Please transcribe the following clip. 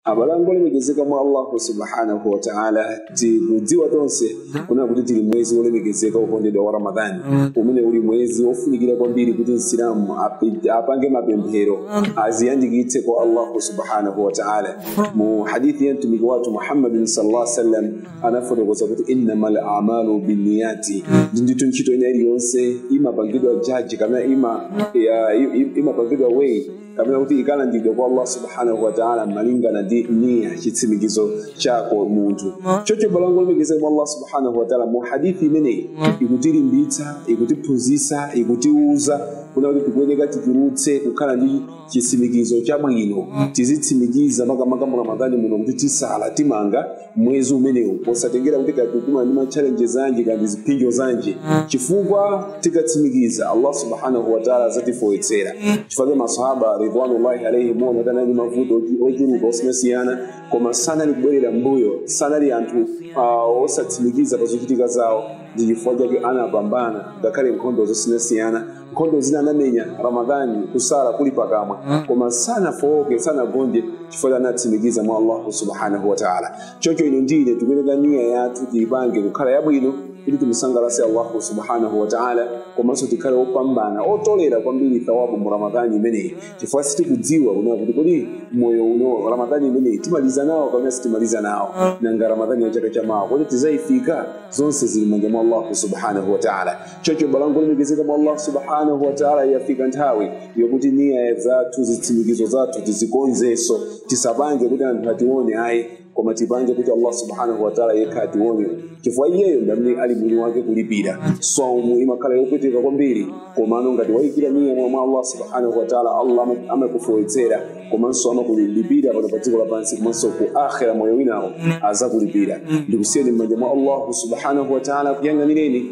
abale anga olemekezeka mwa allahu subhanahu wataala tikudziwa tonse kunena kuti tili m'mwezi wolemekezeka wokondedwa wa ramadhani umene uli mwezi wofunikira kwambiri kuti msilamu api- apange mapemphero aziyandikitse kwa allahu subhanahu wataala mu hadithi ya mtumiki wathu muhammadin sallallahu sallam anafotokoza kuti innama lamalu binniyati ndithu ntchito ina iliyonse imapangidwa judge kapena ima- ya- i- i- imapangidwa weigh kapena kuti ikalandiridwa kwa allah subhanahu wataala malingana ndi niya chitsimikizo chako munthu choncho abale anga olemekezeka mwa allah subhanahu wataala mu hadithi imeneyi ikutilimbitsa ikutiphunzitsa ikutiuza kunena kuti tikuyeneka tichulutse kukhala ndi chitsimikizo chabwino tizitsimikiza makamaka mu ramadhani muno kuti tisala timaliza mwezi umenewu posatengera kuti kodi tikumana ndi matchalenje zanji kaya ndi ziphinjo zanji chifukwa tikatsimikiza allah subhanahu wataala azatifewetsera chifukwa masahaba ridwanullahi alaihim onawa anali ndi mavuto ochu- ochuluka osiyanasiyana koma sanali kubwerera mbuyo sanali anthu uh, osatsimikiza pa zochitika zawo ndi chifukwa chake anapambana ngakhale nkhondo zosiyanasiyana nkhondo zina anamenya ramadhani kusala kuli pakamwa koma sanafowoke sanagonje chifukwa anatsimikiza mwa allahu subhanahu wataala choncho inu ndi ine tikuyeneka niya yathu tiyipange kukhala yabwino kuti timusangalatse allahu subhanahu wataala komanso tikhale opambana otolera kwambiri thawabu mu ramadhani imeneyi chifukwa sitikudziwa kunena kuti kodi moyo uno ramadhani imeneyi timaliza nawo kapena sitimaliza nawo nanga ramadhani ya chaka chamawa kodi tizayifika zonse zili m'manja mwa allahu subhanahu wataala choncho abale anga olemekezeka mwa allah subhanahu wataala yafika nthawi yokuti niya zathu zitsimikizo zathu tizikonzenso tisapange kuti anthu atione ayi koma tipange kuti allah subhanahu wataala yekha atione chifukwa iyeyo ndi amene ali mwini wake kulipira saumu imakhala yopweteka kwambiri komano ngati wayikira niya mwa allah subhanahu wataala allah ama- amakufewetsera komanso amakulipira pano pa dziko lapansi komanso ku akhira moyo winawo azakulipira ndikusiyeni m'manja mwa allahu subhanahu wataala akuyang'anireni